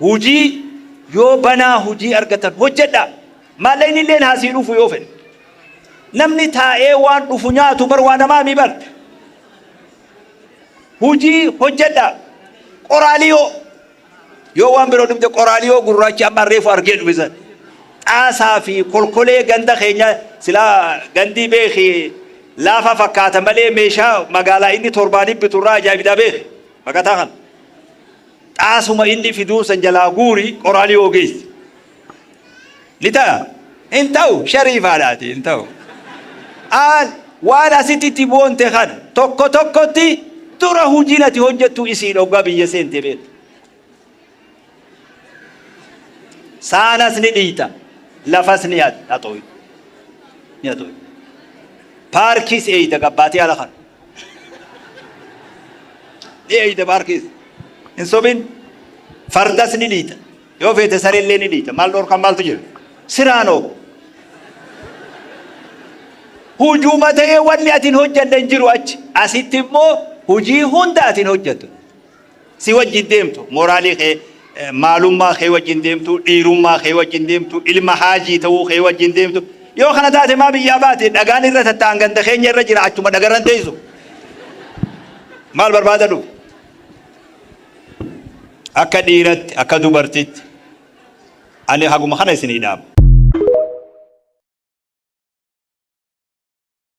Hujii yoo banaa hujii argatan hojjedhaa. Maallaqnilleen haa sii dhufu yoo fedhe. Namni taa'ee waan dhufu nyaatu bar waa namaa mii bar. Hujii hojjedhaa. Qoraaliyoo yoo waan biroo dhumte qoraaliyoo gurraachi amma reefu argee dhume san. Xaasaa fi kolkolee ganda keenya silaa gandii beeki laafa fakkaata malee meeshaa magaalaa inni torbaaniif bitu irraa ajaa'ibdaa beeki baqataa kana. Xaasuma inni fiduu san jalaa guuri Qoraaliyoo geessi. Ni ta'a? Hin ta'u shariifaadha ati hin ta'u. Aal waan asitti itti boonte kana tokko tokkotti dura hujiin ati hojjettu isiin oggaa biyya seente beekta. Saanas ni dhiita lafas ni haxooyta. Ni haxooyta. Paarkiis eeyda gabbaatee ala kana. ni eeyda baar keessa hin sobin fardas ni dhiita yoo feete sareellee ni dhiita maal dhorkan maaltu jira siraanoo hujuuma ta'ee wanni atin hojjadhe hin jiru achi asitti immoo hujii hunda atin hojjattu Si wajjin deemtu, moraalii kee, maalummaa kee wajjin deemtu, dhiirummaa kee wajjin deemtu, ilma haajii ta'uu kee wajjin deemtu. Yoo kana taate maa biyyaa baate? Dhagaan irra tatta'an ganda keenya irra jira achuma dhagarran teessu. Maal barbaada dhufu? Akka dhiiratti, akka dubartitti ani haguma kana isinii dhaama.